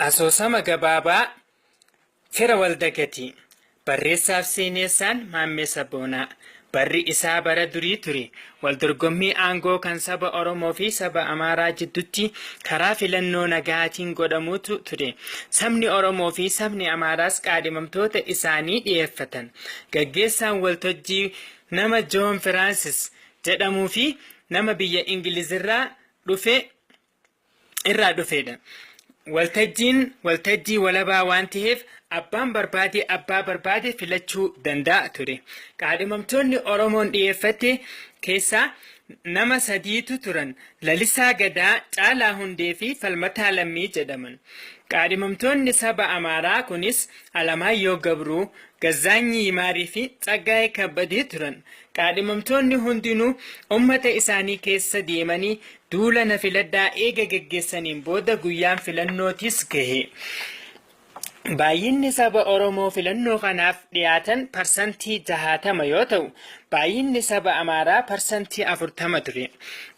Asoosama gabaabaa Fira Waldagatii Barreessaaf seeneessaan Maammee Sabboonaa Barri isaa bara durii ture. Waldorgommii aangoo kan saba Oromoo fi saba Amaaraa jiddutti karaa filannoo nagaatiin godhamuutu ture. Sabni Oromoo fi sabni Amaaraas qaadhimamtoota isaanii dhiyeeffatan. Gaggeessaan waltojjii nama Joon Firaansis jedhamuu fi nama biyya Ingilizirraa dhufe irraa dhufeedha. Waltajjiin waltajjii walabaa waan ta'eef abbaan barbaade abbaa barbaade filachuu danda'a ture. Qaadhimamtoonni Oromoon dhiyeeffatte keessaa nama sadiitu turan. Lalisaa Gadaa, Caalaa Hundee fi Falmataa Lammii jedhaman. Qaadhimamtoonni saba Amaaraa kunis Alamaayyoo Gabruu, Gazzaanyi Yimaarii fi Tsaggaayee Kabbadee turan. Kaadhimamtoonni hundinuu ummata isaanii keessa deemanii duula na filadhaa eega geggeessaniin booda guyyaan filannootis gahe. Baay'inni saba Oromoo filannoo kanaaf dhiyaatan parsantii 60 yoo ta'u, baay'inni saba Amaaraa parsantii 40 ture.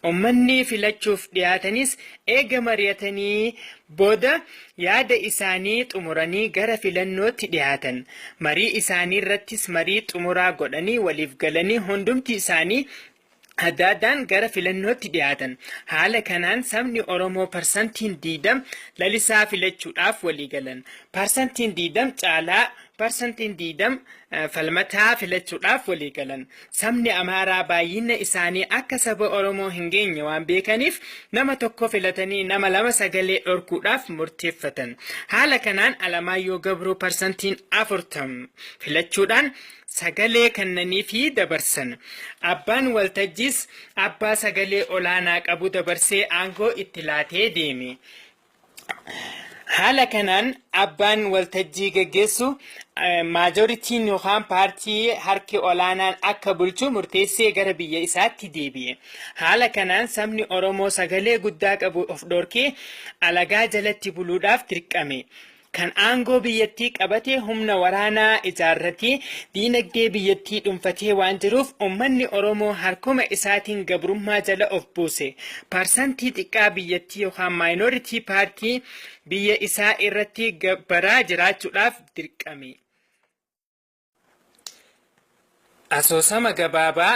Ummanni filachuuf dhiyaatanis eega mari'atanii Booda yaada isaanii xumuranii gara filannootti dhihaatan. Marii isaaniirrattis marii xumuraa godhanii waliif galanii hundumti isaanii adda addaan gara filannootti dhihaatan. Haala kanaan sabni Oromoo parsantiin 20 Lalisaa filachuudhaaf walii galan. Parsantiin 20 Caalaa, parsantiin 20 Falmataa filachuudhaaf walii galan. Sabni Amaaraa baay'inna isaanii akka saba Oromoo hin geenye waan beekaniif nama tokko filatanii nama lama sagalee dhorkuudhaaf murteeffatan. Haala kanaan Alamaayyoo Gabroo parsantiin 40 filachuudhaan sagalee kannaniifii dabarsan. Abbaan waltajjiis abbaa sagalee olaanaa qabu dabarsee aangoo itti laatee deeme. Haala kanaan abbaan waltajjii geggeessu maajoritiin yookaan paartii harki olaanaan akka bulchu murteessee gara biyya isaatti deebi'e. Haala kanaan sabni Oromoo sagalee guddaa qabu of dhorkee alagaa jalatti buluudhaaf dirqame. kan aangoo biyyattii qabate humna waraanaa ijaarratee diinagdee biyyattii dhunfatee waan jiruuf ummanni Oromoo harkuma isaatiin gabrummaa jala of buuse parsantii xiqqaa biyyattii yookaan minority party biyya isaa irratti gabbaraa jiraachuudhaaf dirqame. Asoosama Gabaabaa.